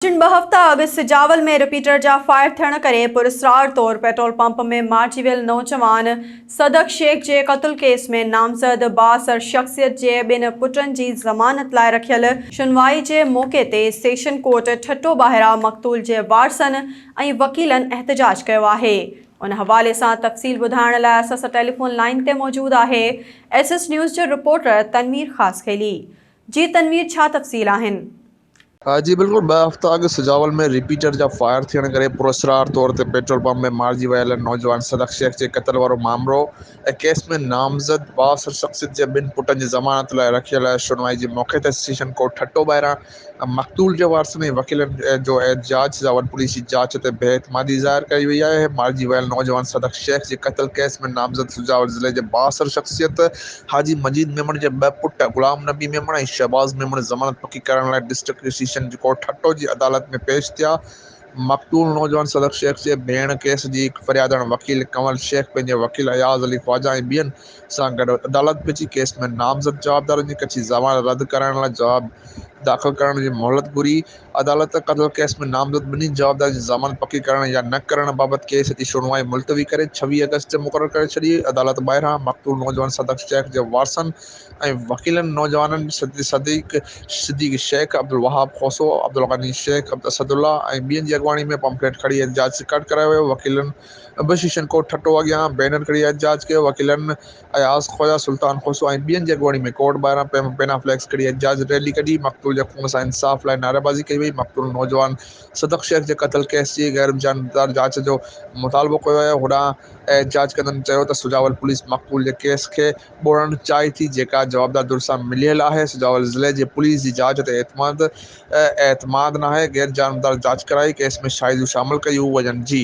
چن ٻه هفتا اڳ سجاول ۾ رپيٽر جا فائر ٿيڻ ڪري پراسرار طور پيٽرول پمپ ۾ مارجي ويل نوجوان صدق شيخ جي قتل ڪيس ۾ نامزد بااثر شخصيت جي ٻن پٽن جي ضمانت لاء رکيل شنوائي جي موقعي تي سيشن ڪورٽ ٺٽو ٻاهران مقتول جي وارثن ۽ وڪيلن احتجاج ڪيو آهي ان حوالي سان تفصيل ٻڌائڻ لاء اسان سان ٽيليفون لائين تي موجود آهي ايس ايس نيوز جي رپورٽر تنوير خاصخيلي جي تنوير ڇا تفصيل آهن. ها جي بلڪل ٻه هفتا اڳ سجاول ۾ رپيٽر جا فائر ٿيڻ ڪري پراسرار طور تي پيٽرول پمپ ۾ مارجي ويل نوجوان صدق شيخ جي قتل وارو مامرو ۽ ڪيس ۾ نامزد بااثر شخصيت جي ٻن پٽن جي ضمانت لاء رکيل شنوائي جي موقعي تي سيشن ڪورٽ ٺٽو ٻاهران مقتول جي وارثن ۽ وڪيلن جو احتجاج سجاول پوليس جي جاچ تي بي اعتمادي ظاهر ڪئي وئي آهي مارجي ويل نوجوان صدق شيخ جي قتل ڪيس ۾ نامزد سجاول ضلعي جي بااثر شخصيت حاجي مجيد ميمڻ جي ٻه پٽ غلام نبي ميمڻ ۽ شهباز ميمڻ ضمانت پڪي ڪرائڻ لاء ڊسٽرڪٽ رجسٽريشن ڪورٽ ٺٽو جي عدالت ۾ پيش ٿيا. مقتول نوجوان صدق شيخ جي ڀيڻ ڪيس جي هڪ فريادڻ وڪيل ڪنول شيخ پنهنجي وڪيل اياز علي خواجا ۽ ٻين سان گڏ عدالت پھچي ڪيس ۾ نامزد جوابدارن جي ڪچي ضمانت رد ڪرائڻ لاء جواب داخل ڪرڻ جي مهلت گهري عدالت قتل ڪيس ۾ نامزد ٻنهي جوابدارن جي ضمانت پڪي ڪرڻ يا نه ڪرڻ بابت ڪيس جي شنوائي ملتوي ڪري ڇويهه آگسٽ تي مقرر ڪري ڇڏي. عدالت ٻاهران مقتول نوجوان صدق شيخ جي وارثن ۽ وڪيلن نوجوانن صديق صديق شيخ، عبدالوهاب کوسو، عبدالغني شيخ، اسدالله ۽ ٻين جي اڳواڻي ۾ پمفليٽ کڻي احتجاج رڪارڊ ڪرايو ويو. وڪيلن به شيشن ڪوٽ ٺٽو اڳيان بينر کڻي احتجاج ڪيو. وڪيلن اياز خوجا سلطان کوسو ۽ ٻين جي اڳواڻي ۾ ڪورٽ ٻاهران پينا فليڪس کڻي احتجاجي ريلي ڪڍي، مقتول جي خون سان انصاف لاء نعريبازي ڪئي وئي، مقتول نوجوان صدق شيخ جي قتل ڪيس جي غيرجانبدار جاچ جو مطالبو ڪيو ويو، هوڏانهن احتجاج ڪندڙن چيو ته سجاول پوليس مقتول جي ڪيس کي ٻوڙڻ چاهي ٿي، جيڪا جوابدار ڌر سان مليل آهي، سجاول ضلعي جي پوليس جي جاچ تي اعتماد اعتماد ناهي، غيرجانبدار جاچ ڪرائي ڪيس ۾ شاهديون شامل ڪيون وڃن جي.